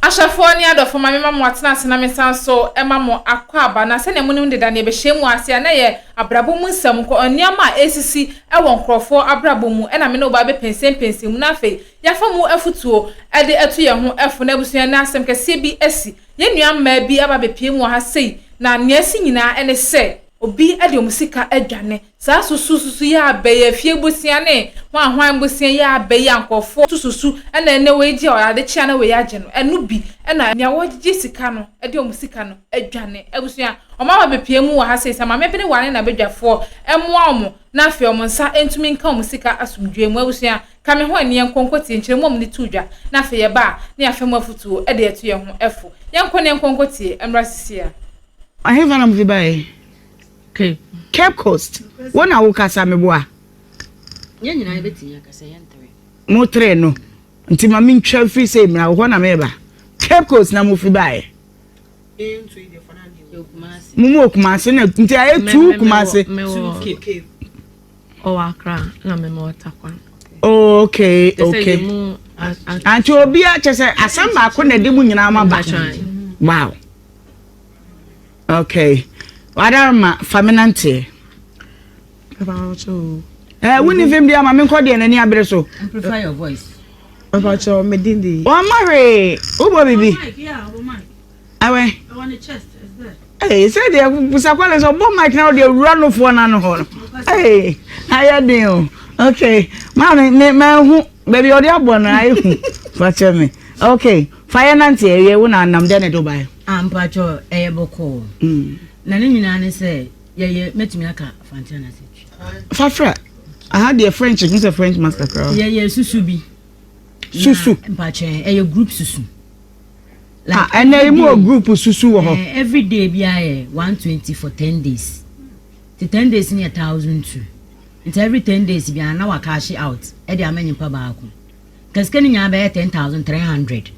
Ahyɛfoɔ ne adɔfoɔ ma mema mo atena ase na mesan nso ma mo akɔ aba. Na sɛdeɛ monim deda nea ɛbɛhyɛ mu ase a na ɛyɛ abrabɔ mu nsɛm nko, nneɛma a ɛresisi wɔ nkurɔfoɔ abrabɔ mu na me ne wo ba bɛpɛnsɛmpɛnsɛm mu. Na afei yɛafa mu afutuo de atu yɛn ho fo. Na abusua ɛnnɛ asɛm kɛseɛ bi asi. Yɛn nua mmaa bi aba abɛpue mu wɔ ha sei na nea asi nyinaa ne sɛ obi de wɔn sika adwane. Saa susususu yi a bɛyɛ, afie bosea ne hwan hwan bosea yi a bɛyɛ a nkorɔfoɔ sususu na ɛnnɛ wei gye a ade kye a na wei agye no, ɛno bi na nea wɔgyegye sika no de wɔn sika no adwane. Abusua, wɔn ama bepue mu wɔ ha seesei, maame bi ne w'ane na badwafoɔ mmoa wɔn na afei wɔn nsa ntumi nka wɔn sika asomdwoeɛ mu. Abusua, ka me ho ani yɛnkɔ nkɔtie nkyerɛmu a wɔde too dwa na afei yɛba a na yɛafa mu afotuo de atu yɛn ho fo. Yɛnkɔ na yɛnkɔ nkɔtie mmra seesei ara. Ɛhefa na mode baeɛ? Cape Coast, wo na wokasa meboa? Yɛn nyinaa yɛbɛtumi aka sɛ yɛn tere. Mo tere no nti ma mentwa mfiri sɛ mmra wo hɔ na meba. Cape Coast na mofi baeɛ. Mo mu wɔ Kumase na nti ayɛ tu Kumase. Ɔwɔ Accra na mema wɔ Takwa. Oh, okay, okay. Anti obi a kyɛ sɛ asɛm baako na ɛde mu nyinaa ma ba. Wow. Okay. Wadar ma fa me nanteɛ. Eh, wo ni fem dia ma me nkɔ deɛ n'ani abere so. Amplify your voice. Mpacho me din di. Wa ma hwe. Wo bo bibi. Awe. Eh, sɛ deɛ busakwale sɛ ɔbɔ mic na ɔde awura nofoɔ no ano hɔ no ee ayɛ den o ok maame me mahu baabi ɔde abɔ no ayɛ hu fakyɛ me ok fa yɛ nante awie wo na nam dɛ ne do baeɛ Ah mpakyɛw ɛyɛ bɔkɔɔ na ne nyinaa ne sɛ yɛyɛ mɛtumi aka fantea na sɛ twi. Fafra aha deɛ French ɛhu sɛ French mas kakra. Yɛyɛ susu bi. Susu. Mpakyɛ ɛyɛ group susu. Like ah ɛnna yi mu wɔ group susu wɔ hɔ. Eh, every day bi ayɛ one twenty for ten days. The ten days ni yɛ thousand two. Nti every ten days bi ana wa cash out ɛde ama nipa baako. Ka sika no nyinaa bɛyɛ ten thousand three hundred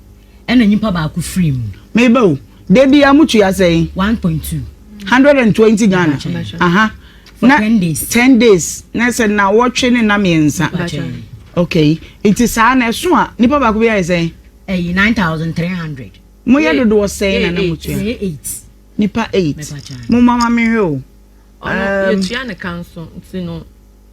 ɛna nyimpa baako firii mu. Meba o, da biara mo tua sɛn? One point two. Hundred and twenty Ghana, aha. For na, ten days. Ten days, na sɛ nawɔtwe ne na mmiɛnsa. Ok, nti saa na ɛso a nipa baako bi ayɛ sɛn? Ɛyɛ nine thousand three hundred. Mo yɛ dodoɔ sɛn na na mo tua? Yɛ eight. Nipa eight. Mo mama mi hwɛ o. Ɔno yɛ tua ne kan so, nti no.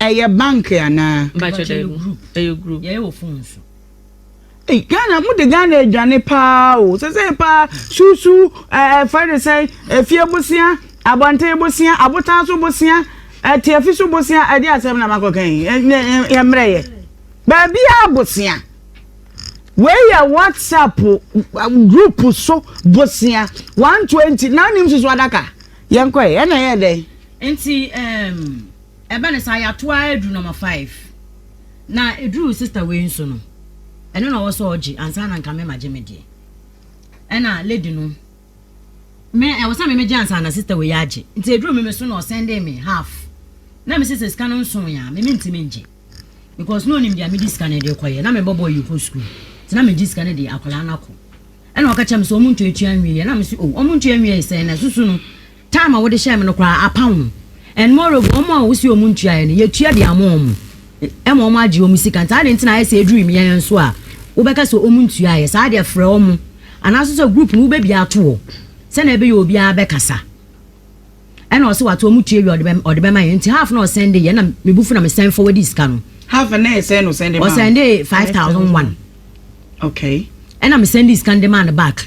Ɛyɛ bank anaa? Mpakyɛ dabi ɛyɛ group yɛyɛ wɔ phone so. Ei Ghana mo de Ghana adwane paa o sesei paa susu ɛɛ fɛ de sɛn efie bosea abɔnten bosea abotan so bosea ɛtiafi so bosea ɛde asɛm na makɔ kan yi yɛ mmerɛ yɛ baabi a bosea wei yɛ whatsapp group so bosea one twenty na nim susu adaka yɛn kɔ yɛ ɛna yɛ dɛ. Nti ɛɛm. Um... Ɛba no saa yɛato ara aduru number five na ɛduruu sister wei nso no ɛno na ɔwɔ sɛ ɔgye ansa na nka me magye me deɛ ɛna lady no me ɛwɔ sɛ me megye ansa na sister wei agye nti ɛduruu me me so na ɔsɛndee me half na me sɛ sika no nso yɛ a me mentimi ngye because na ɔnim deɛ mede sika no de kɔyɛ na mebɔbɔ yi kɔ sukuu nti na megye sika no de akwadaa no akɔ ɛna ɔka kyerɛ me sɛ ɔmo ntua ntua nwie yɛ na me sɛ o oh, ɔmo ntua nwie sɛ na susu no Time a wode hyɛɛ me no koraa apa ho and moreover wɔn a wose wɔn ntuaeɛ no yɛtua de ama wɔn ɛma wɔn agye wɔn sika nti adɛn nti na ayɛ sɛ ɛduru me yɛn nso a wobɛka sɛ wɔn ntuaeɛ saa deɛ frɛ wɔn anaasɛ sɛ group no wobɛbia ato hɔ sɛnea ɛbɛyɛ obiara bɛkasa ɛna ɔsɛ wato wɔn tua wie ɔde bɛma yɛn nti half na ɔsɛnde yɛn na mebu fo na mesɛn forward sika no half na ɛsɛn no sɛnde ma ɔsɛnde 5001 okay ɛna mesɛnde sika no de maa no back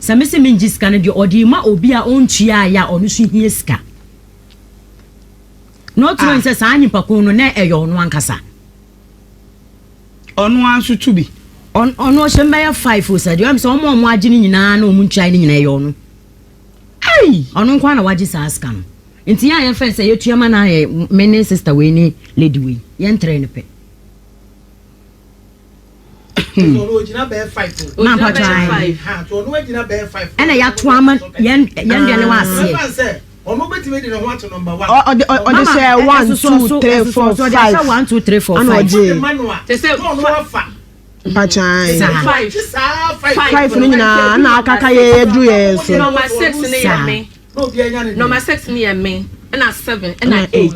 Sɛ me se mengye sika no deɛ ɔde rema obi a ɔntuaaeɛ a ɔno nso hia sika. Not knowing sɛ saa nyimpa ko no na ɛyɛ ɔno ankasa. Ɔno ara nso to bi. Ɔno ɔhyɛ mu bɛyɛ five o sɛ deɛ ɔyɛ sɛ wɔn a wɔn agye no nyinaa na wɔn ntuae no nyinaa ɛyɛ ɔno. Ei! Ɔno nko ara na wagye saa sika no. Nti yɛn a yɛfɛn sɛ yɛtua ma no ayɛ me ne sister wei ne lady wei yɛntrɛɛ no pɛ. Hmm. na mpatwa ɛna yɛato ama yɛn deɛ ne waaseɛ ɔde sɛ 1 2 3 4 5 ana ɔgye mpakyan five no nyinaa na akaka yɛ yɛduru yɛ so nɔma six no yɛ me nɔma six no yɛ me ɛna seven ɛna eight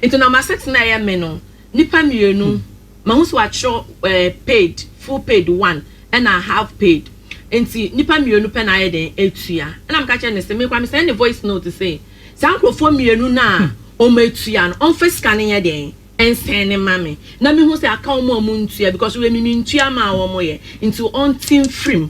nti nɔma six no yɛ me no Nnipa mmienu, mahu sɛ wɔatwerɛ ɛɛ paid, full paid one ɛna half paid nti nnipa mmienu pɛ na ayɛ dɛn atua ɛna meka kyerɛ no sɛ me koraa me send no voice note se saa nkorɔfoɔ mmienu no a wɔn atua no wɔmfa sika no nyɛ dɛn nsend no ma me na mehu sɛ aka wɔn a wɔntua because wei me mentua maa wɔn yɛ nti wɔnte mfirim.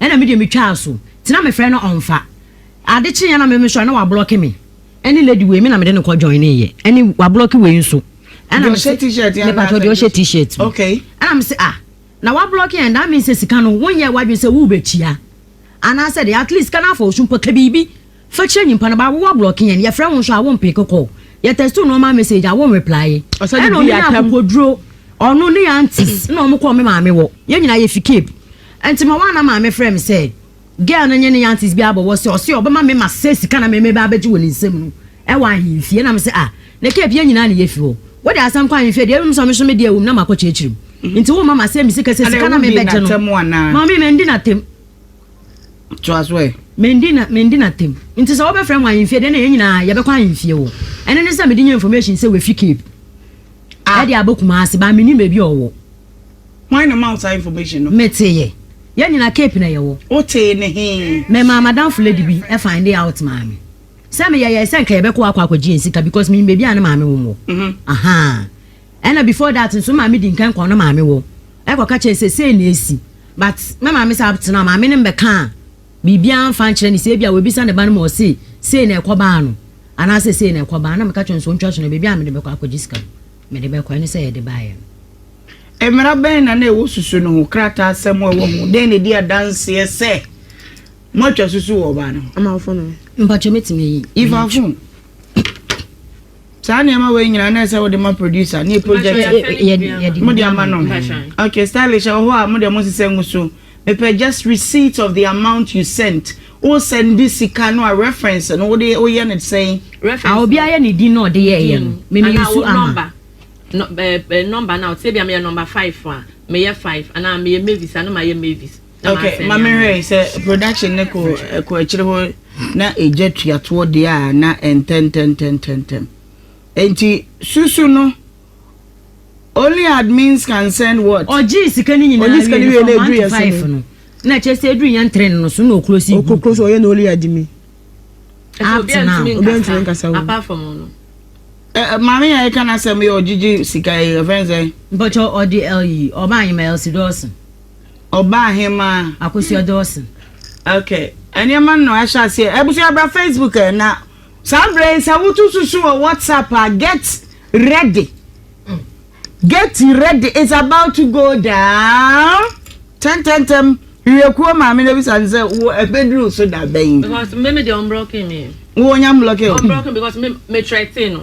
ɛna me deɛ me twaa so tena me frɛ no ɔnfa ade kyeeɛ na me me sɔre na wa blɔki me ɛne lady wei me na me de no kɔ join ne yɛ ɛne wa blɔki wei nso ɛna me se me patro deɛ ɔhyɛ t-shirt no ɛna me se ah na wa blɔki yɛn that means sɛ sika no wo nyɛ wadwene sɛ wo bɛ tua anaasɛ deɛ at least sika no afa osu mpo ka biribi. Fa kyerɛ nyimpa no, baawo wɔablɔke hɛn, yɛfrɛ wo so a wommpee kɔkɔɔ, yɛtɛstoo noɔma message a wonnreplaae. Nna ɔno nye Akokoduro, ɔno, ne aunties na wɔkɔɔ me maame hɔ, yɛn nyinaa yɛfi Cape. Nti ma woana maame frɛɛ me sɛ girl no nye ne aunties bi abɔwɔ sɛ ɔse ɔbɛma me ma sɛ sika na meme ba abɛgye wɔ ne nsam no wɔ ahemfie na mese ah na Cape yɛn nyinaa na yɛfi hɔ wode asɛm kɔ ahemfie deɛ ɛwom sɛ ɔno nso me deɛ wom na makɔ kyerɛkyerɛ mu nti woma ma sɛ me sika sɛ sika na mebɛgye no maame mandi no atam Toa so ɛ. Mendi na mendi na tem. Nti sɛ wobɛfrɛ mo ahenfie deɛ ɛna yɛn nyinaa yɛbɛkɔ ahenfie wɔ. Ɛno ne sɛ mede nya information sɛ wafi Cape a ɛde abɔ Kumasi but mennim baabi a ɔwɔ. Hwan na ɔma wo saa information no? Mete yɛ. Yɛn nyinaa Cape na yɛwɔ. Wotee no he? Memaa m'adamfo lady bi find out maa me. Sɛ meyɛyɛe sɛ nka yɛbɛkɔ akɔ akɔgye yɛn sika because menim baabi a ne maame wom wɔ. Ahaa. Ɛna before that nso me maame di nkan kɔɔ ne maame hɔ ɛkɔ ka kyerɛ no sɛ sei na ɛsi but me maame saa abtena maame no mmɛkaa biribiara mmfa nkyerɛ no sɛ ebia wabisa ne ba no ma ɔse sei na ɛkɔ baa no anaasɛ sei na ɛkɔ baa na meka kyerɛ no sɛ ɔntwa so na baabi a mede bɛkɔ akɔgye sika no mede bɛkɔ ɛno sɛ yɛde baeɛ no. Mmara bɛn na na ɛwɔ susu no ho? Krataasɛm a ɛwɔ ho dɛn na ɛdi adanseɛ sɛ moatwa susu wɔ ɔbaa no ho? Mpakyɛ mɛtumi ayi. Yi fa fon. Saa nneɛma wei nyinaa na ɛsɛ wode ma producer ne project mode ama no okay stylish ɛwɔ hɔ a mo deɛ mo nsesɛ ngu so mepɛ just receipt of the amount you sent wo send sika no a reference no wode woyɛ no sɛn a obi ayɛ ne din na ɔde yɛ ɛyɛ no meme yusu ama number na ɔte sɛ bia meyɛ number five a meyɛ five anaa meyɛ mavis a na mayɛ mavis. Ok ma me hwɛ sɛ production ne ko ɛkɔ akyire hɔ na egya tuatoɔ deɛ a na ɛntɛntɛntɛntɛntɛm enti susu no only admins can send what ɔgye sika no nyinaa ɔgye sika no wie na edu yɛ sɛ no na kyerɛ sɛ edu yɛn tren no so na okuro si group okuro so ɔyɛ na only admin up to now obi ntumi nkasa wo apart from ɔno maame yɛ ɛka na sɛ mo yɛ ɔgyegye sika yɛ fɛn sɛ mpɔtɔ ɔde ɛyi ɔba anyima ɛlsi dɔɔso. Ɔbaa hemaa. Akosua Dawson. Okay nneɛma no ahyɛ aseɛ abusua bra Facebook ɛ na saa berɛ yi sɛ wotu susu wɔ WhatsApp a get ready get ready is about to go down tɛntɛntɛm wiekuo maame na bisa ne sɛ wo ɛbɛduru so da bɛn. because mmemme deɛ ɔmblɔke me. wo nya mblɔke o. ɔmblɔke because me me trɛte no.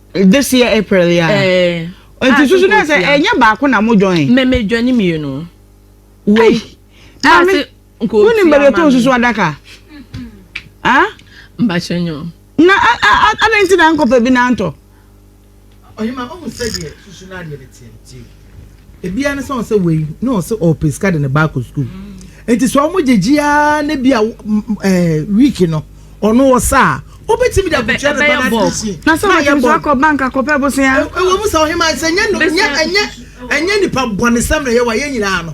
This year April yeah. Ɛɛ. Nti susu na sɛ ɛnyɛ baako na mo join. Mɛ mɛ join ni mmienu. Wei. Maame nko fi ama. Wọ́n ní susu adaka. Ah. Mbakyɛ nyɔ. Na a a a adan ti na nkɔpɛ bi na ntɔ. Ɔyɛ ma ɔmu sɛ deɛ susu na adeɛ de tiɛ tiɛ. Ebia ne sɛ ɔsɛ wei na ɔsɛ ɔpɛ sika de ne ba akɔ sukuu. Nti sɛ ɔmo gyegye ara na bi a ɛɛ wiiki no ɔno ɔsa a wobɛtumi de akɔtua ne ba no ase na sɛ ɔbɛtumi so akɔ bank akɔpɛ bosia. Ɛwɔ mu sɛ ɔhema sɛ nyɛ nyɛ ɛnyɛ ɛnyɛ nipa bɔnesɛm na yɛwɔ a yɛn nyinaa no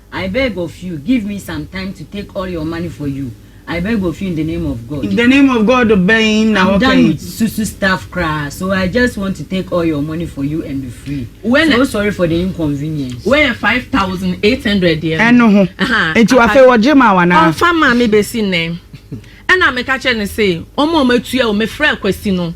I beg of you give me some time to take all your money for you I beg of you in the name of God. In the name of God bɛn na wɔka yi. I'm done with susu stuff koraa so I just want to take all your money for you and be free. Wɛlɛ so sorry for the inconvenience. Wɛyɛ five thousand eight hundred deɛ. Ɛno ho nti wafɛ wɔgye ma wa naa. Ɔnfa maa mi besi nnɛ ɛna mi ka kyerɛ ne se wɔn a wɔn atua o mefrɛ kwasi no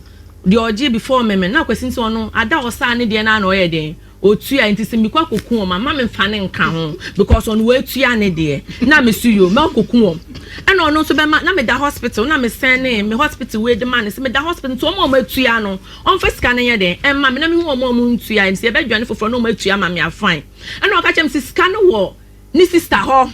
deɛ ɔgye before mɛmɛ na kwasi nso ɔno ada ɔsaa ne deɛ naa na ɔyɛ den. Otua nti se mekɔ akoku wɔn a mma me nfa ne nka ho because ɔno watua ne deɛ na me so yoo mɛkɔku wɔn ɛna ɔno nso bɛma na meda hospital na me sɛnee me hospital wei de ma no se meda hospital nti wɔn a wɔn atua no ɔnfa sika no nyɛ dɛn ɛmma me na mehu wɔn a wɔn ntua ɛm se yɛbɛdwane foforɔ na wɔn atua ama me a fine ɛna ɔka kyerɛ me se sika no wɔ ne sister hɔ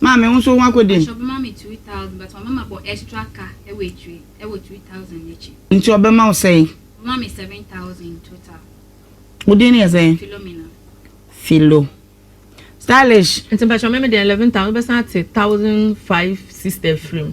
Maame wo nso ho akɔdi m. Nti ɔbɛma wo sɛn? Wo din no yɛ sɛn? Philomena. Philo. Stylish. Nti mpakyɛ me me deɛ eleven thousand wobɛsan ate thousand five sister afiri mu.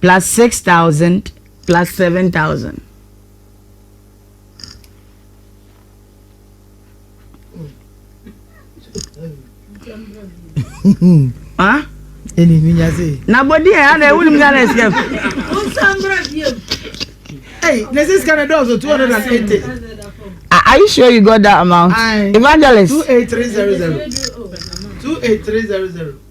plus six thousand plus seven thousand. ah ɛni mi nya se. na bɔ di yɛ ana ewu ni mi ana esi ɛfu. o san bɛrɛ bi yɛ. ɛyi ne sisi kan na dɔw two hundred and eighty. Are you sure you got that amount? I, Evangelist. 28300. 28300.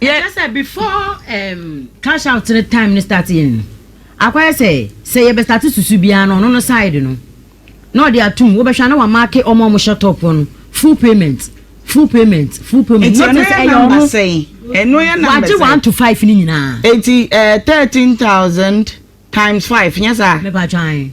Yɛ. Ɛkyerɛ sɛ before ɛɛm cash out no time no start yɛ no, akɔyɛ sɛ sɛ yɛbɛ start susu biara no ɔno no side no na ɔde atum. Wobɛhwɛ a na wamake wɔn a wɔhyɛ top hɔ no full payment, full payment, full payment. Nti ɛno yɛ number sɛn? Ɛno yɛ number sɛn? Wagye one to five no nyinaa. Nti ɛɛ thirteen thousand times five nyɛ saa? Mepatwa ae.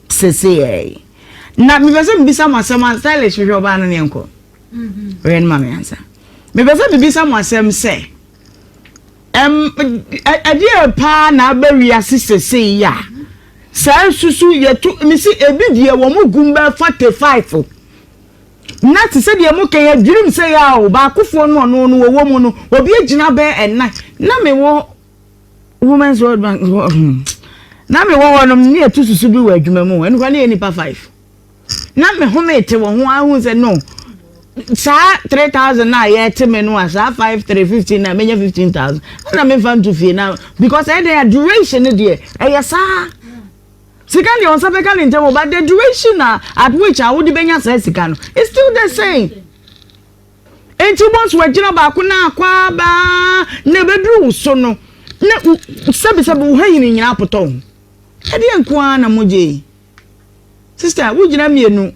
Seseɛɛi na mepɛ sɛ mebisa mo asɛm a stylish hwehwɛ ɔbaa no ne yɛnkɔ ɔyɛ no ma me ansa mepɛ sɛ mebisa mo asɛm sɛ ɛm ɛdeɛ paa na aba wiase sesei a saa susu yɛto mesi ebi deɛ wɔn mo gum bɛɛ forty five na te sɛ deɛ mo kɛn adwirim sɛ yɛ a o baakofoɔ no ɔno no wɔwɔ mu no obi agyina bɛɛ ɛnan na mewɔ Women's World Bank hɔ hmm. na mewɔ hɔ nom ne ɛtu susu bi wɔ adwuma mu ɛno kora ne yɛ nipa five na me home te wɔ ho ahu sɛ no saa three thousand na yɛte me no a saa five three fifteen na menya fifteen thousand ɛna memfa nto fie na because ɛdɛn a duration no deɛ ɛyɛ saa sika deɛ wɔn nsa bɛka ne ntɛm but the duration na at which a wode bɛnya saa sika no it's still the same. Enti wobɔ so agyina baako no ara kɔ ara ba ara na ɛbɛduru wo so no, na sɛbesɛbe wo hahini nyinaa apotɔ wo ho. Ɛdeɛn nko ara na mogye yi? Sista, wogyina mmienu.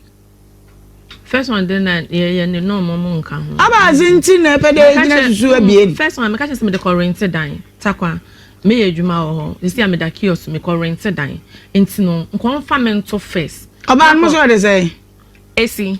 First one de na yɛyɛ ne nɔɔma mu nka ho. Aba adze nti na ɛpɛ dɛ gyina susu abien. First one meka kyerɛ sɛ mede kɔ rente dan takwa meyɛ adwuma wɔ hɔ sisi a meda kiosk mekɔ rente dan nti no nkɔmfa me nto first. Ɔbaa no mo sɛ ɔde sɛ. Esi.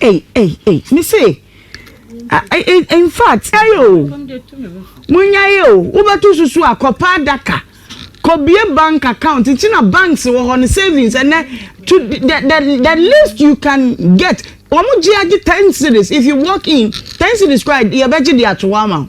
Ei, ei, ei, me se, in fact, ei o, munya ei o, wobɛto susu akɔpa adaka, kɔbie bank account, nti na banks wɔ hɔ no savings, ɛnɛ, to the, the, the least you can get, wɔn gye agye ten series, if you walk in, ten series kora yɛbɛgye de ato hɔ ama wo.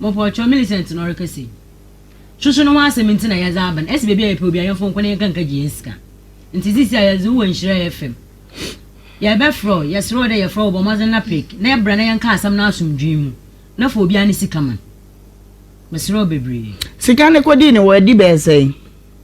Mopɔkyɛw, Millicent na ɔreka sei. Soso no ho asɛm ntsi na yɛdze aba no. Ese beebi a yɛpɛ obi a yɛmfa ɔnkɔ na yɛnka nka gye hɛn sika. Ntsi sesei a yɛdze wo wɔ Nhyira FM. Yɛrebɛfrɛ wo, yɛserɛ wo dɛ yɛfrɛ wo bɔ mbɔdzen na pick na bra na yɛnka asɛm no asomdwee mu na fa obiara ne sika ma no. Meserɛ wo beberee. Sika no kodii no wɔ adi bɛyɛ sɛn?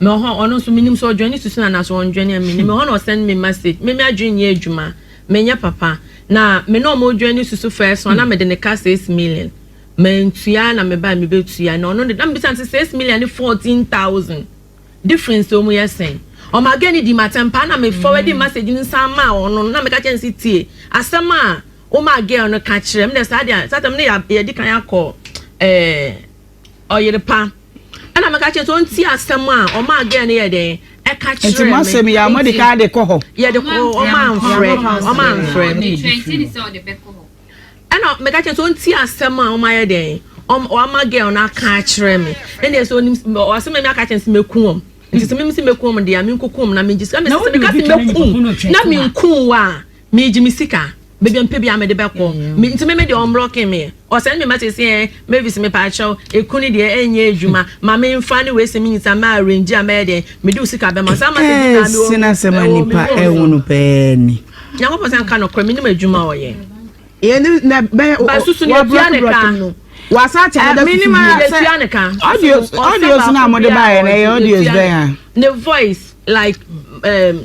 Me wɔ hɔ ɔno nso menim sɛ ɔdwane susu no anaasɛ ɔndwane a menim. Me hɔ na ɔsend me message. Me me adwene nyɛ adwuma. Menyɛ papa. Na me na ɔmo dwane susu first one na mede ne ka six million. Mantua na mebae mebetua na ɔno de na mebisa no sɛ six million ne fourteen thousand difference no ɔmo yɛ sɛn. Ɔmaa girl no dii m'atɛm paa na me forward message no san maa ɔno no na meka kyerɛ no sɛ tie asɛm a womaa girl no ka kyerɛ me dɛ saa deɛ saa tam no yɛ yɛde kan akɔ ɛɛ Ɔyere pa. Ɛna meka kyerɛ sɛ ɔnti asɛm a ɔma agɛn no yɛ dɛn ɛka kyerɛ me. Ɛti masɛm yi a ɔma de ka de kɔ hɔ. Yɛ de kɔ ɔma nfrɛ ɔma nfrɛ. Ɛna meka kyerɛ sɛ ɔnti asɛm a ɔma yɛ dɛn ɔma agɛn no aka akyerɛ me. Ɛna ɛsɛ ɔnim ɔsɛ mɛmi aka kyerɛ sɛ mɛku wɔm. Nti sɛ mɛmi sɛ mɛku wɔm deɛ a menkuku wɔm na mengye sika. Ɛna sɛ meka sɛ mɛku na menku wa a megye me sika. Baabi mpɛ biaa mede bɛkɔ nti me me deɛ ɔnblɔke me ɔ send me message sɛ Mavis mepaakyɛw eku no deɛ ɛnyɛ adwuma ma me nfa ne wei sɛ me nyisaa mɛ arrange a mɛyɛ dɛn mede wo sika bɛma wo saa message nyinaa mewɔ ɛɛ senasɛm a nipa ɛwono pɛɛ ni. Nyankopɔn sɛ nka nokorɛ menim adwuma ɔyɛ. Yɛne na bɛyɛ ba susu ne yɛtua ne ka wasa akyɛ ne da susu menim ara yɛtua ne ka audios audios na mode baayɛ na ɛyɛ audios bɛn a ne voice like um,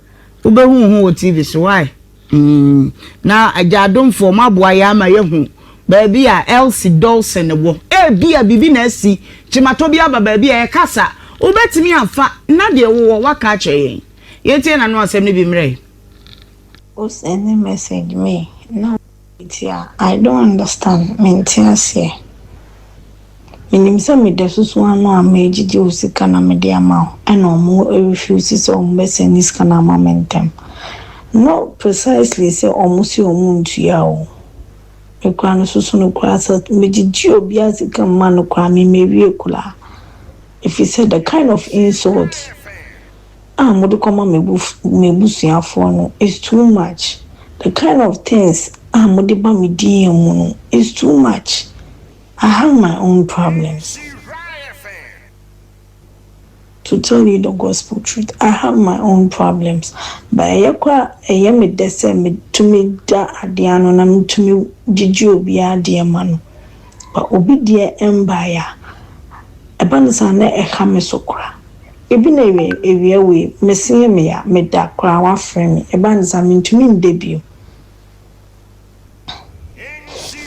Wobɛhu ho wɔ TV so wai mm na agyadomfoɔ mo aboa yɛn ama yɛahu baabi a Elsie Dolson wɔ ebia biribi na asi kyematɔ bi aba baabi a yɛkasa wobɛtumi afa na deɛ wowɔ waka akyerɛ yɛn yɛntie n'ano asɛm no bi mmerɛ. O send message me na. Metia I don't understand, mente aseɛ. Menim sɛ meda susu ano a mɛgyegye wo sika na mede ama wo ɛna ɔmo refuse sɛ ɔmo bɛ sɛne sika no ama me ntɛm. Not precisely sɛ ɔmo se ɔmo ntua o. Me koraa me susu no koraa sɛ megyegye obiaa sika mma no koraa me mmɛwie koraa. Ɛfiri sɛ the kind of insult. a mode kɔma m'abusuafoɔ no is too much, the kind of things a mode ba me DM mu no is too much, I have my own problems, to tell you the gospel truth, I have my own problems, but ɛyɛ kɔ a ɛyɛ me dɛ sɛ metumi da adeɛ ano na metumi gyegye obiara deɛ ma no, but obi deɛ mbaeɛ a, ɛba no saa na ɛha me so kora, Ebi na ewie ewia wei meseɛ meya meda koraa wafrɛ me ɛba ne saa mentumi nda bio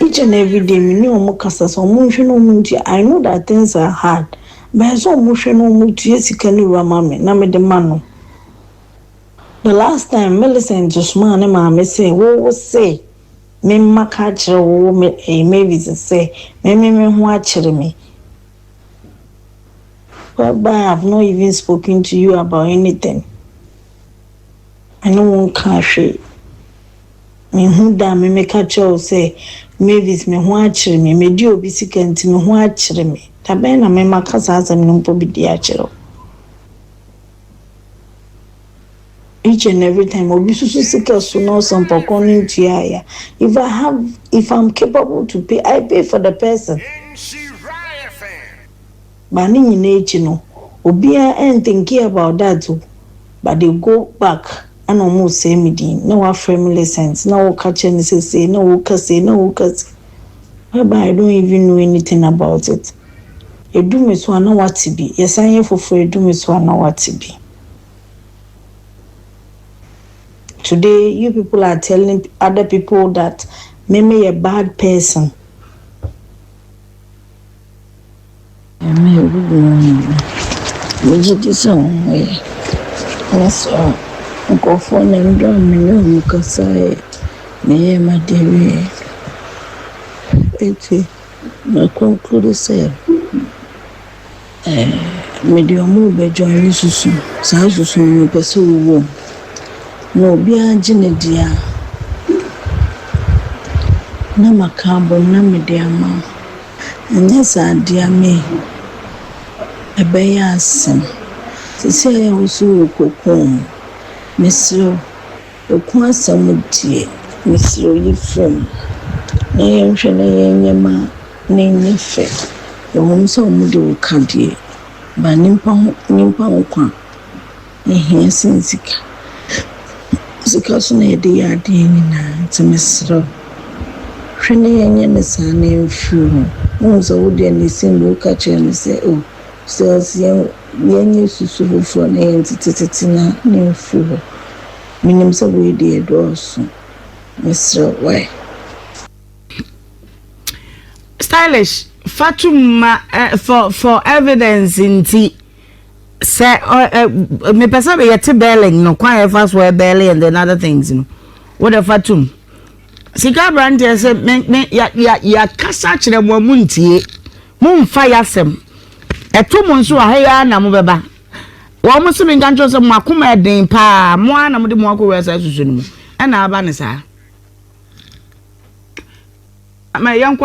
each and everyday me ne ɔmo kasa sɛ ɔmo nhwɛ na ɔmo ntua I know that things are hard but ɛsɛ sɛ ɔmo hwɛ na ɔmo tua sika no wura ma me na mede ma no the last time Millicent somaa ne maame sɛ wo wo se me mma ka akyerɛ wo wo me ɛɛ Mavis sɛ me me me ho akyere me. Whereby I have not even spoken to you about anything, me ne wo nkaa hwee. Menhu da a me meka kyerɛɛ wo sɛ, Mavis, me ho akyere me, madi obi sika nti me ho akyere me. Da bɛn na me maka saa asɛm no mpo bi de akyerɛ wo? Each and every time obi susu sika so na ɔsɔ mpɔkorɔ no ntua a ya. If I have, if I'm capable to pay, I pay for the person. but ne nyinaa akyi no obiara ɛn thinking about that o but they go back ɛna ɔmo resɛɛ me din na wafrɛ me lessons na ɔreka kyerɛ me sɛ sei na ɔreka sei na ɔreka sei whereby I don't even know anything about it ɛdu me so a na wate bi yɛsan yɛ foforɔ ɛdu me so a na wate bi today you people are telling other people that me meyɛ bad person. Nyame a obubu hɔn nyinara, megye dzi dɛ hom ho ye. Ɔno so a, nkorɔfoɔ na ndɔ a menye hom kasae, meyɛɛ m'ade wieeɛ. Ntsi, me conclude sɛ, eh, mede hom reba join no susu, saa susu no mepɛ sɛ ɔwɔ mu, na obiara gye ne dea a, na maka abom na mede ama wo. Anyɛ saa de a me ɛbɛyɛ asem. Sesei a wo so wo kɔ kɔn mu, mesrɛ wo, ɔko asem wo deɛ, mesrɛ wo yi frɛ mu na yɛn hwɛ na yɛn nyɛ ma no nyɛ fɛ. Ɛwom sɛ wɔn de wo ka deɛ, but nimpa ho, nimpa nkwa. Ehia sen sika. Sika so na yɛde yɛ adeɛ nyinaa nti mesrɛ wo hwɛ na yɛnyɛ no saa na yɛmfiri hɔ. Wohu sɛ wo deɛ na ɛsɛ mu woka kyerɛ no sɛ oh sales yɛnyɛ susu foforɔ na yɛntetetete no a na ɛmfiri hɔ. Menim sɛ wei deɛ ɛdɔɔso. Mesrɛ wo wai. Stylish fa to mu ma for for evidence nti. sɛ mepɛ sɛ yɛte bɛɛlɛn no kwan a yɛfa so ɛbɛɛlɛn and then other things no wode fa tom sika aberanteɛ sɛ me me yɛakasa akyerɛ mo a mo ntie mo mfa yɛasɛm ɛto mo nso aha yi ara na mo bɛba wɔn mo se me nka nkyɛn sɛ mo akoma ɛden paa mo ara na mo de mo akɔwura saa susu no mu ɛna aba ne saa ama yɛnkɔ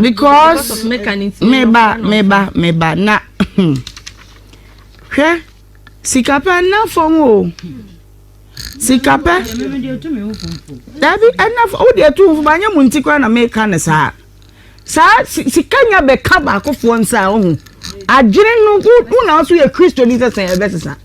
because meba meba meba na hwɛ sikapɛ nna fam o sikapɛ dabi ɛnna fam wodi etu nfam anya mu nti kora na meka ne saa saa sika nya bɛka baakofoɔ nsa ɔho adwene no wo na nso yɛ kristo ni sɛ sɛn ɛbɛsesa.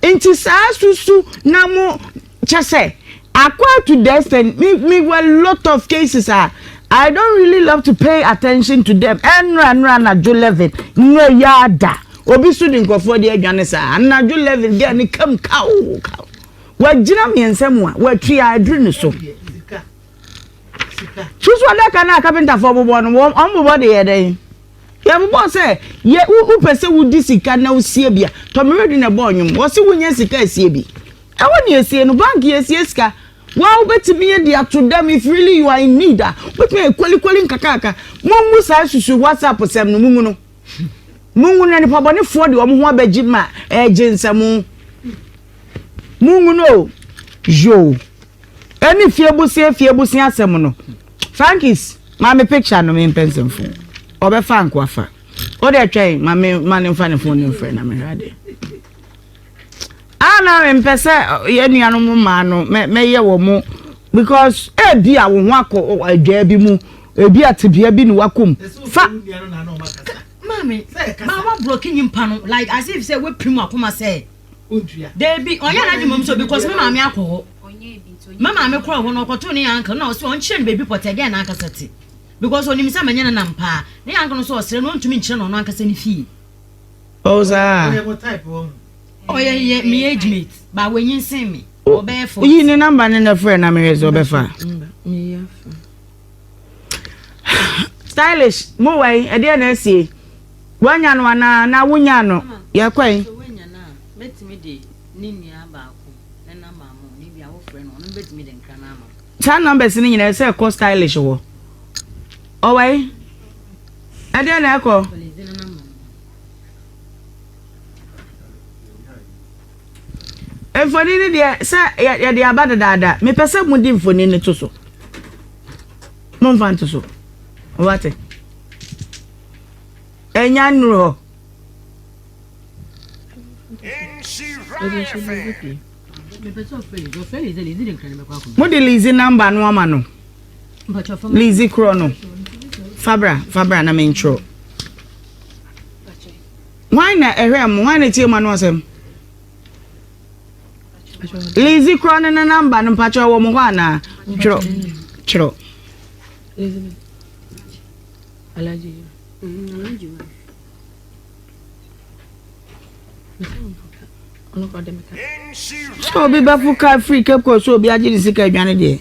Nti saa susu na mo kyɛsɛ acquire to the extent me me wɔ lot of cases a I don't really love to pay attention to them ɛnora nora anadwo eleven nora yi ada obi so de nkurɔfoɔ de adwane saa anadwo eleven girl ne kam kawo kawo wagyina mmiɛnsa mu a watwi a aduru ne so susu adaka no a kapentafoɔ bobɔ no wɔn bobɔ de yɛ dɛn. Yɛbobɔɔ sɛ yɛ wo wopɛ sɛ wodi sika na wosie bi a, Tɔmmerɛdu na ɛbɔɔ nnwom. Wɔse wonya sika a sie bi. Ɛhɔ na yɛsie no, bank yɛsie sika. Woa wobɛtumi de ato dam if really you are in need a, wobɛtumi ayɛ kolikoli nkakrankra. Mommu saa susu WhatsApp sɛm no, mungu no. Mungu no na nipa bɔnefoɔ de wɔn ho abɛgye ma ɛregye nsɛm. Mungu no o. Yoo. Ɛne fie bosea fie bosea asɛm no frankis ma me picture no me mpɛ nsɛm fo ɔbɛfa nko afa wode atwɛn ma me ma ne mfa ne fon ne mfrɛ na mehwɛ adeɛ ana ah, mempɛ sɛ yɛ nuanom mmaa no mɛyɛ wɔ mo because ebi a wo ho akɔ adwaa bi mu ebi a tebea bi ne wakɔm fa maame maame aburo kinyi mpa no like as if sɛ wepirimu akoma sɛ. odua. Dabi ɔnyɛ n'adwene mmom so because me maame akɔ hɔ. Me maame kɔɔ hɔ no ɔkɔtoo ne yanka na ɔsɛ ɔnkyerɛ no baabi pɔtɛ dɛn n'ankasa te. Because ɔnim sɛ manyɛ ne nam paa. Ne yanka no nso ɔsrɛ no ɔntumi nkyerɛ no ɔno ankasa ne fie. Oh saa. Ɔyɛ mo type wɔ ho. Ɔyɛ yɛ me age mate but wanyinsen me. Ɔbɛyɛ forty. Yi ne number no na frɛ na mehwɛ sɛ ɔbɛfa. Meyi afa. stylish mo wɔ yi ɛdeɛ na ɛsi yi wanya no anaa na wonya no yɛ kɔ yi. saa numbers ni nyinaa ɛsɛ ɛkɔ stylish wɔ ɔwɔ yi ɛdeɛ na ɛkɔ. Mfoni no deɛ sɛ yɛde aba dedaada mepɛ sɛ mode mfoni no to so momfa nto so wate ɛnya nnuru hɔ mode lizi namba no ama no lizi korɔ no fabra fabra na mentwerɛ Hwan na ɛhwɛɛ mo? Hwan na ɛtiee mo ano asɛm? Lizzy korɔ no ne namba no mpakyɛ wɔ mo hɔ anaa? Twerɛ. Twerɛ. Sɛ obi bɛfo ka firi Cape Coast sɛ obi agye ne sika adwane deɛ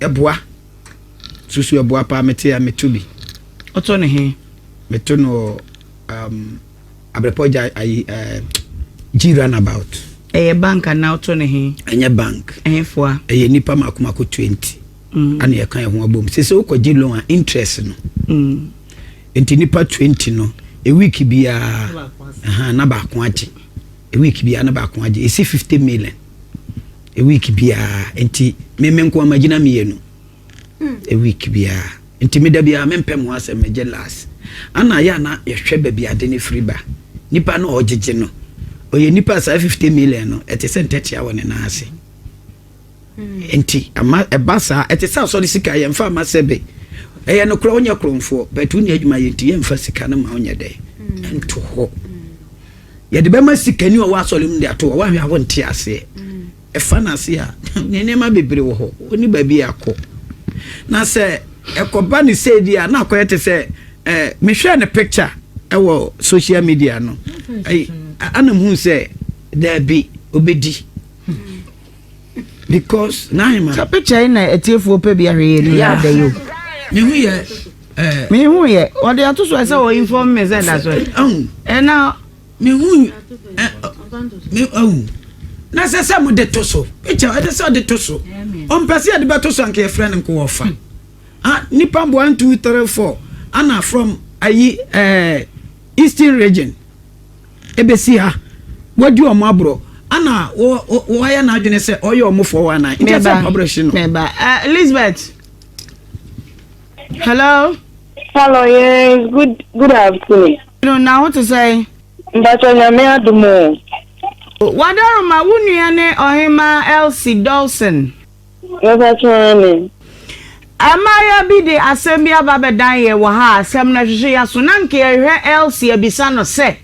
Ɛboa. Susu ɛboa paa mete a meto bi. Ɔtɔ ne he? Meto no wɔ um, Abrepɔ gya ayi um, G runabout. Ɛyɛ bank anaa ɔtɔ ne he? Ɛnyɛ bank. Ɛhe foa? Ɛyɛ nipa mako mako 20. Mm. Ana yɛka ɛho abom. Sɛ sɛ wokɔ gye loan a interest no. Mm. Nti nipa 20 no, a week biara, na baako agye. A week biara na baako agye. Ɛsi 50 million. week biara nti me me nko ama gyina mmienu hmm. week biara nti me da biara me mpɛ mo asɛm me gye last ana ayɛ ana yɛhwɛ baabi ade ne firi ba nipa no ɔgyegye no ɔyɛ nipa saa fifty million no ɛte sɛ ntɛtea wɔ ne nan ase hmm. nti ama ɛba saa ɛte sɛ asɔre sika yɛn fa ama sɛ be ɛyɛ no korɔ ɔnyɛ korɔnfoɔ bɛtu ne adwuma yɛ nti yɛn fa sika no ma ɔnyɛ dɛ hmm. nto hɔ. yɛde bɛma sikani ɔwɔ asɔre mu de ato hɔ wahwɛ a wonte aseɛ ɛfa no ase a ne nneɛma bebree wɔ hɔ ɔni baabi akɔ na sɛ ɛkɔba ne sɛ di a na akɔyɛ te sɛ eh, mehwɛɛ ne picture ɛwɔ social media no ana hu sɛ daabi ɔbɛdi because n'ahema. sɛ picture yi na atiefoɔ pɛ bi ahwɛ yɛ no yɛ ada yi o. mehu yɛ ɛɛ. mehu yɛ ɔde ato so sɛ wɔ inform me sɛ da so ɛ. ɛhu ɛna. mehu ɛ me ɛhu na sɛ sɛ mo de to so picture ɛde sɛ ɔde to so ɔmpɛ sɛ yɛde bɛto so anka yɛfrɛ no nkowɔ fa ah nipa mbo one two three four ana from ayi ɛɛ eastern region. Ebesi ha, woadi wɔn aborɔ, ana wo, wo, woayɛ n'adwene sɛ ɔyɛ wɔn foɔ wɔ anan? Nkyɛ sɛ mpaborɔ hye no. Meba. Uh, Elizabeth. Hello. Hello, yes, good, good afternoon. No, na ho te sɛn? Mpatsɔ nyame adom o. Wadaroma, wo nua ne Ɔhema Elsie Dawson. Mepakyɛ aane. Mmaayewa bi de asɛm bi aba bɛdan yɛn wɔ ha a asɛm no hwehwe yɛn aso. Na anka yɛhwehwɛ Elsie abisa no sɛ,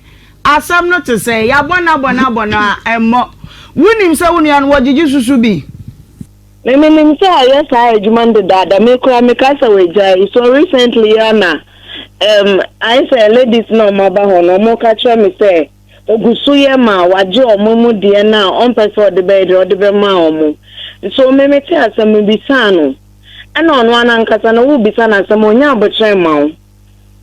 Asɛm no te sɛn? Yɛabɔ no abɔ no abɔ no a, ɛmmɔ. Wunim sɛ wo nua no, wɔgyegye susu bi? Me, menim sɛ ɔyɛ saa adwuma no dedaada. Me koraa, meka sɛ wagyae. So recently yi ara na ɛɛm, ayɛ sɛ ladies no a wɔaba hɔ no, wɔka kyerɛ me sɛ, Ogu so yɛ ma wagye wɔn amu deɛ no a ɔmpɛ sɛ ɔde bɛyɛ deɛ ɔde bɛma wɔn. Nso me metee asɛm no bisaa no, ɛna ɔno ara nankasa no wo bisa no asɛm ɔnyɛ aboterɛ mma wo.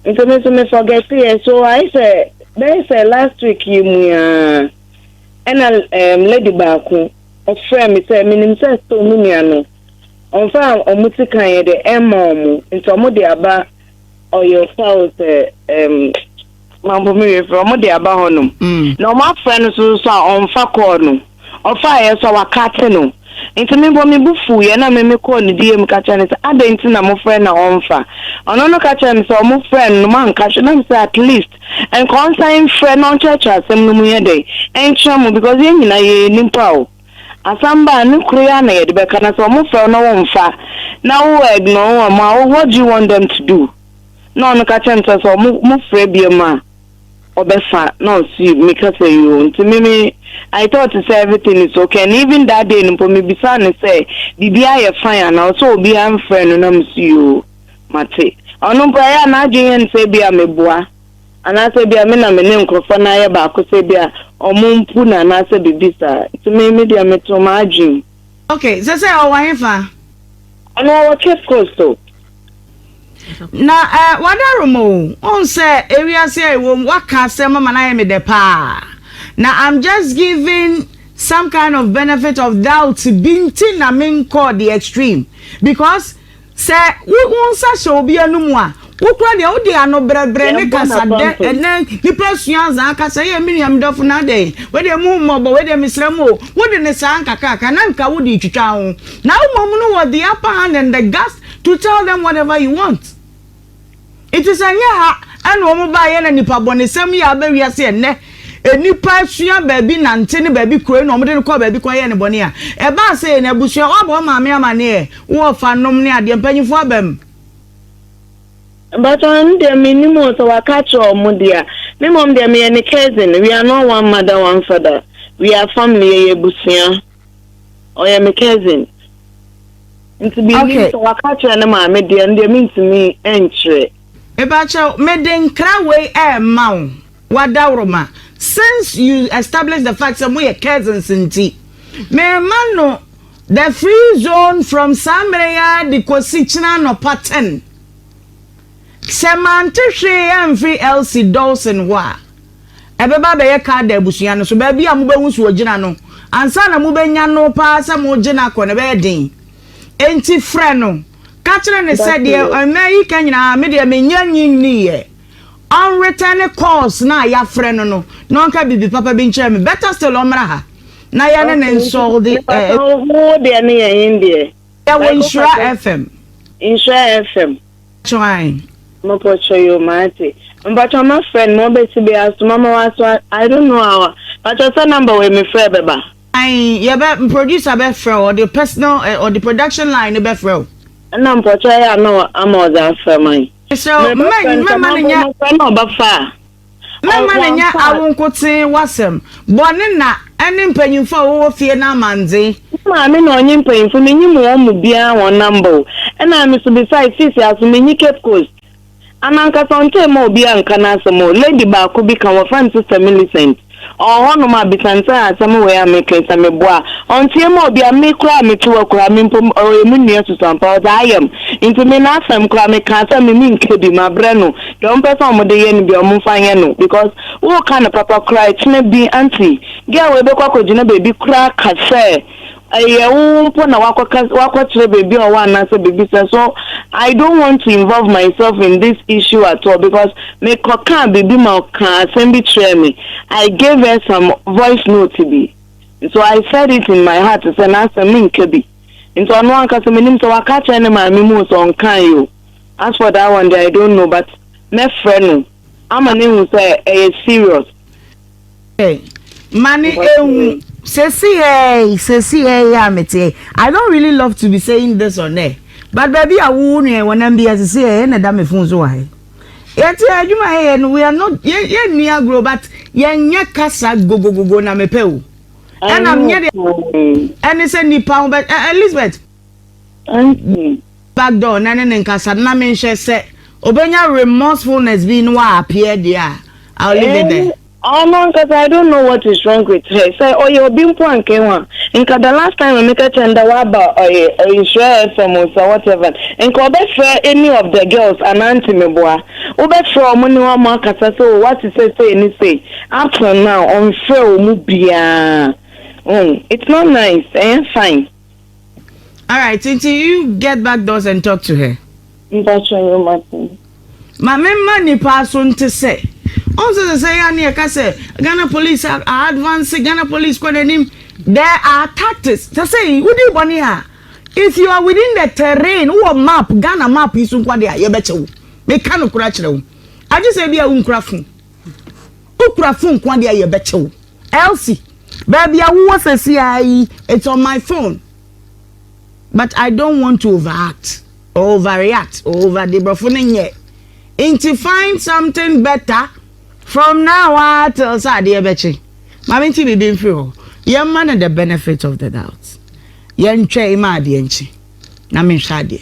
Nti me nso me forgeteɛ so ayɛ sɛ bɛyɛ sɛ last week yi mu yi ara ɛna ɛɛm lady baako ɔfrɛɛ me sɛ menim sɛ sɛ wɔn nua no ɔmfa wɔn sika yɛ deɛ ɛmma wɔn nti wɔn de aba ɔyɛ ɔfa wo sɛ ɛɛm Mampo me werɛ firi ɔmo de aba hɔ nom na ɔmo afrɛ no so so a ɔnfa kɔɔl no ɔfaeɛ so a wakate no nti me mpo me bo fuu yɛ na me me kɔɔ ne DM ka kyerɛ no sɛ adɛn nti na mo frɛ na ɔnfa ɔno no ka kyerɛ me sɛ ɔmo frɛ no nom anka hwɛ na me sɛ at least nka ɔnsan mfrɛ na ɔnkyerɛkyerɛ asɛm no mu yɛ dɛn ɛnkyerɛ mo because yɛn nyina yɛ yɛ nipa o asɛm ba a ne koro yɛ a na yɛde bɛka na sɛ ɔmo frɛ wo na wo nfa na wo ignore wɔn a what do you want them to do. na ɔno ka kyerɛ no sɛ sɛ ɔmo mo frɛ biom a ɔbɛfa na ɔsi me ka sɛ yoo nti me me I thought sɛ everything is okay and even that day no mpo me bisaa no sɛ biribi a yɛ fine anaa ɔsɛ obiara mfrɛ no na me si yoo mate ɔno mpo ɛyɛ a n'adwene yɛ no sɛ ebi a me boa anaasɛ ebi a me na me ne nkorɔfoɔ no ayɛ baako sɛ ebi a ɔmo mpu no anaasɛ biribi saa nti me me deɛ me too m'adwene. Okay, sɛ sɛ ɔwɔ hefa? Ɔno ɔwɔ Cape Coast o. Na ɛ eh, wadaro mo o, ɔn sɛ ewiase a ɛwɔ mu waka asɛm ama no ayɛ me dɛ paa. Na I'm just giving some kind of benefit of doubt bi nti na menkɔɔ the extreme because Sɛ wo wo nsa hyɛ obi anum a, wo koraa deɛ wode ano brɛbrɛ ne kasa dɛ ɛnɛ nipa sua azaa kasa yɛ me nua me dɔfo na adɛn wei deɛ mu hu mmɔbɔ wei deɛ mesrɛ mo o wode ne saa nkakraka na nka wode retwitwa ho na wo mmom no wɔ the upper hand and the guts to tell them whatever you want. Enti sɛ ɛnyɛ ha na wɔn baeɛ na nipa bɔnesɛm yi aba wiase ɛnnɛ, nnipa sua baabi nante ne baabi kuro na wɔde no kɔ baabi kɔyɛ ne bɔne a, ɛbaa sɛ yɛn abusua, woabɔ wo maame amaneɛ, wo ɔfa nom ne adeɛ, mpanyinfoɔ aba mu. Mpakyɛw ɛno deɛ me nim o sɛ waka akyerɛ ɔmo deɛ a me mmom deɛ meyɛ ne cousin we are not one mother one father we are family yɛyɛ abusua. Ɔyɛ me cousin. Nti me nim sɛ waka akyerɛ ne maame deɛ ndeɛ me ntumi nkyerɛ. Mepakyɛw mede nkra wei rema wo w'adaworoma since you establish the fact sɛ moyɛ cousins nti merema no the free zone from saa mmerɛ yi ara de kɔsi kyena anɔpa ten sɛ mante hwee amfiri Elsie Dawson hɔ a ɛbɛba abɛyɛ Kaldea abusua no so, baabi a mubehu sɛ ogyina no. Ansa na mubenya no paa sɛ moregye no akɔ no, ɛbɛyɛ den. Enti frɛ no, ka kyerɛ no sɛ, 'Deɛ mmɛn yi ka nyinaa, me deɛ menyɛ nnye nnii ɛ. Ɔnretɛne kɔɔls no a yɛafrɛ no no, na ɔnka biribi papa bi nkyerɛ me. Better still, ɔmmra ha na yɛne no nsɔlde ɛ. Yɛwɔ Nhyira FM. Twain. Mopɔkyɛ yoo mate. Mpakyɛw ma frɛ no ma ɔbɛte bi asoma ma wa so I don't know how a mpakyɛw sɛ number wei me frɛ bɛba. Ae yɛbɛ producer bɛ frɛ wo ɔde personal eh ɔde production line no bɛ frɛ wo. Ɛna mpakyɛw ɛyɛ a na ama ɔdze afrɛ man. Mesrɛ wo mɛn mɛma no nyɛ. Mefrɛ no ɔbɛfa a. Mɛma no anya awo nkotsee w'asɛm bɔ ne na ne mpanyimfo a wɔwɔ fie no amandzen. Me maame na ɔnye mpanyimfo, minyim hɔn mu biara hɔn namba o. Nna emi so bisae, Sisi, aso minnyi Cape Coast? Ana ankasa ɔnntse mma obiara nnkã n'asɛm o. Lady baako bi kã, wɔfrɛ no Sister Millicent. Ɔwɔ hɔnom a Bisantsa a asɛm wɔ yi a mekã yi sɛ meboa a, ɔnntsie mu a, obi a me koraa a metse wɔ Kurhaa me mpo ɔyɛ mo nua susuampa, ɔdze ayɛ me ntsi me n'asɛm koraa mekãa sɛ me mennkã bi, mabrɛ no dza ɔmmpɛ sɛ ɔmode yɛ no biara ɔmmfa nyɛ no because wookã no papa koraa a, kyena bi auntie girl wei bɛkɔ akɔgyina beebi koraa aka sɛ, Ɛyɛ wo mpo na woakɔka woakɔkyerɛ baabi a ɔwɔ anaasɛ biribi saa so I don't want to involve myself in this issue at all because me kɔkaa biribi ma ɔkaa asɛm bi kyerɛɛ me I gave her some voice note bi nso I said it in my heart sɛ n'asɛm menka bi nti ɔno ankasa menim sɛ waka akyerɛ ne maame mu o sɛ ɔnkaeɛ o as for that one deɛ I don't know but mɛfrɛ no ama no ahu sɛ ɛyɛ serious. Mane ehu sesi hɛɛi sesi hɛɛi a mete I don't really love to be saying this on air but baabi a wowo nua wɔnam bi asese yɛ na ɛda me fon so wɔ ha yi yɛte adwuma yɛyɛ no we are not yɛnni agorɔ but yɛnyɛ kasa gogogogo na mepɛ o ɛna menyɛ deɛ ɛne sɛ nipa ho bɛ Elizabeth Anthony. back door na ɛne no nkasa na menhwɛ sɛ obenya remorsefulness bi na wa appear deɛ a I will leave it there. Ɔno ankasa I don't know what is wrong with her sɛ ɔyɛ obi mpo a nka ehu a nka the last time a meka kyerɛ no dɛ waba ɔyɛ Nhyira FM o sɛ whatever nka ɔbɛfrɛ any of the girls anaa Ntimeboa wobɛfrɛ wɔn ne wɔn akasa sɛ o wate sɛ sei ne sei up till now ɔnfrɛɛ wɔn biara oh it's not nice ɛnyɛ fine. Alright, nti you get back doors and talk to her. Mpakyɛ me maten. Ma me mma nipa aso nte sɛ. Ɔn sɛ sɛ yɛ ane yɛka sɛ Ghana police a advance, Ghana police kɔ n'anim. There are tactics. Sɛ sɛ yi, wodi bɔne a, if you are within the terrain, wowɔ map, Ghana map yi so nko ade a, yɛbɛkyɛ wo. Meka nokorɛ akyerɛ wo. Agye sɛ ebia wonkura phone. Wokura phone nko adeɛ a yɛbɛkyɛ wo. Elsie, baabi a wowɔ sɛsi ara yi, it's on my phone. But I don't want to overact or overreact or over de brɔfo no nyɛ. Nti find something better from now ah till sɛ adeɛ bɛkye. Maame nti biribi mfiri hɔ. Yɛmma no the benefit of the doubt. Yɛntwɛn ma adeɛ nkye na menhwɛ adeɛ.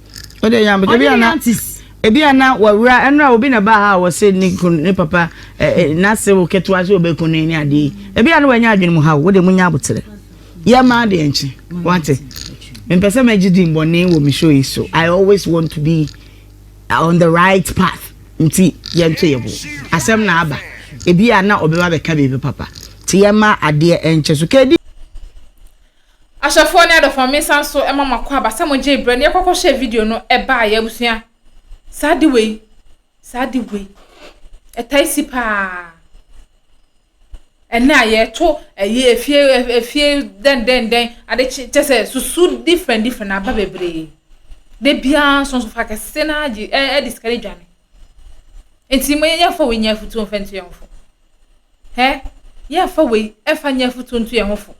o de yam ebi ana ebi ana wawura ɛnura obi na ba ha wɔsi ne kun ne papa ɛɛ n'ase wo ketewa so obe kun ne ne adeɛ ebi ana wanya adwene mu ha o de mu nya abotire yɛ maa deɛ nkye wate mpɛ sɛ mɛ gye di mbɔne wɔ mi show yi so i always want to be on the right path nti yɛn to yɛ bo asɛm na aba ebi ana ɔbɛba bɛka biribi papa ti yɛ maa adeɛ nkye so kedi. Ahyɛfoɔ ne adɔfoɔ me san so ma mo akwaaba sɛ mo gyee berɛ ne yɛkɔ kɔ hyɛɛ video no ɛbaa yɛ abusua saa ade wei saa ade wei ɛtae si paa ɛnɛ a yɛto ɛyɛ efie efie dɛn dɛn dɛn ade kyɛ sɛ susu different different aba bebree de biara nso nso fa kɛse na agye ɛde sika ne dwane nti mo yɛn yɛn fɔ wei nyɛ afutuo nfɛntuo yɛn fɔ. Hɛ, yɛfa wei ɛfa nyɛ afutuo nto yɛn ho fo.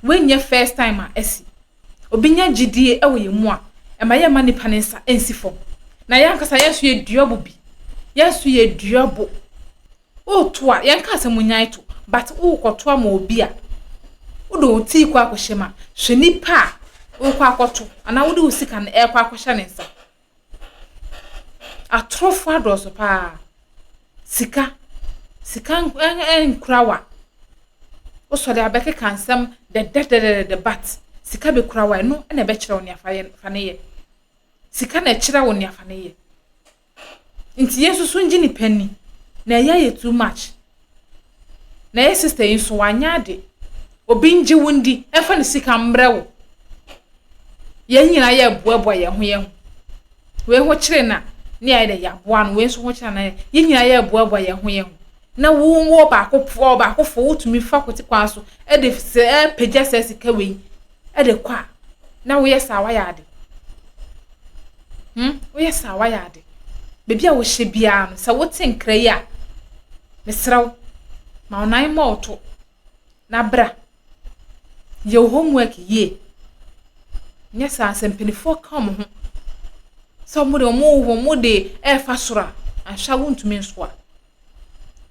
Wei nyɛ first time a ɛsi. Obi nya gyidie ɛwɔ yɛn mu a, ɛma yɛn ma nipa ne nsa ɛnsi fam. Na yɛn ankasa yɛn so yɛ dua bo bi. Yɛn so yɛ dua bo. Woto a, yɛn kaa sɛ mo nyan to, but wokɔ to ama obi a, wode wo tii kɔ akɔhyɛ mu a, hwɛ nipa a wokɔ akɔto anaa wode wo sika no ɛkɔ akɔhyɛ ne nsa. Atorofo adɔɔso paa. Sika, sika nkura wa. Wo sɔre a bɛkeka nsɛm dɛdɛdɛdɛdɛ but sika bekura wa. Ɛno na ɛbɛkyerɛ wo nea fa yɛ, fa no yɛ. Sika na ɛkyerɛ wo nea fa no yɛ. Nti yɛn nso so ngye nipa ni na ɛyɛ yɛ too much. Na yɛ sista yi nso wanyɛ ade. Obi ngye wo ndi ɛmfa ne sika mbrɛ wo. Yɛn nyinaa yɛ boaboa yɛn ho yɛn ho. Wei ho kyerɛ na ne ayɛ dɛ yɛaboa no wei nso ho kyerɛ na yɛ nyinaa yɛ boaboa yɛn ho yɛn ho. Na wo wɔ baako fo baako fo wotumi fa kote kwan so ɛde sɛ ɛpagya sɛ sika wei. de kɔ a, na woyɛ saa wayɛ ade. Hmm, woyɛ saa wayɛ ade. Baabi a wohyɛ biara no, sɛ wote nkra yi a, mesrɛ wo, ma wo nan mmɔ wo to na bra. Yɛ wo homework yie. Nyɛ saa sɛ mpanimfoɔ ka wɔn ho sɛ wɔn de wɔn wɔn de ɛrefa soro a, anhwɛ a wontumi nsoa.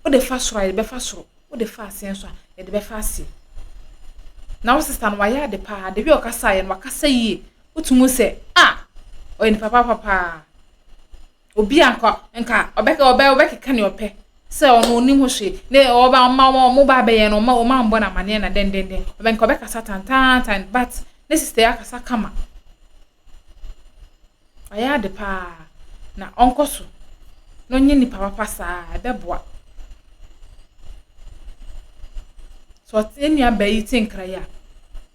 Wode fa soro a, yɛde bɛfa soro. Wode fa aseɛ nso a, yɛde bɛfa aseɛ. Na wo sista no, wayɛ ade paa. Deɛ ɔkasa yɛ no, wakasa yie. Wotumi sɛ, ah, ɔyɛ nipa papa paa. Obi a nka nka ɔbɛka ɔbɛ ɔbɛkeka nea ɔpɛ sɛ ɔno onim ho hwee. Ne ɔba ɔma ɔma ɔmo ba abɛyɛ no, ɔma ɔma mbɔ no amaneɛ na dɛndɛndɛn. Ɔbɛnka ɔbɛkasa tantaantan but ne sista yi akasa kama. Ɔyɛ ade pa ara na ɔnkɔ so na ɔnyɛ nipa papa saa a, ɛbɛboa. Sɛ ɔte yɛn nuabaa yi te nkra yi a,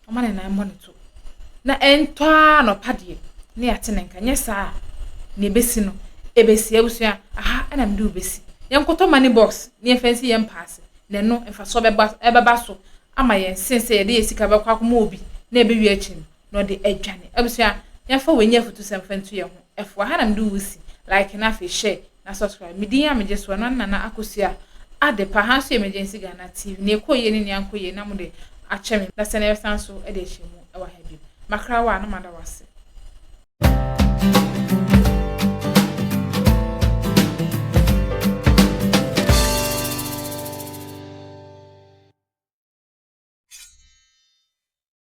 ɔma ne nan mmɔ ne to. Na ɛntɔ ara na ɔpa deɛ na yɛate ne nka. Nyɛ saa a, nea ɛbɛsi no, ɛbɛsi. Abusua, aha na mede wo bɛsi. Yɛnkɔtɔ money box na yɛmfa nsi yɛn mpa ase. Na ɛno, mfasoɔ bɛba, ɛbɛba so ama yɛn sen sɛ yɛde yɛn sika bɛkɔ akɔma obi na ɛbɛwie akyi no, na ɔde adwane. Abusua, yɛmfa wei nyɛ afutusɛm mfa ntu yɛn ho. Ɛfoa. Ha na mede wo si. Like na afei share na subscribe. Me din a megye soɔ no ane Nana Akosua Adepa. Ha nso yɛ Emergency Ghana TV. Nea ɛkɔɔ yie ne nea ankɔ yie na mode akyɛ me. Na sɛnea yɛbɛsan nso de ahyia mu wɔ ha bio. Makra wo a na mada wo ase.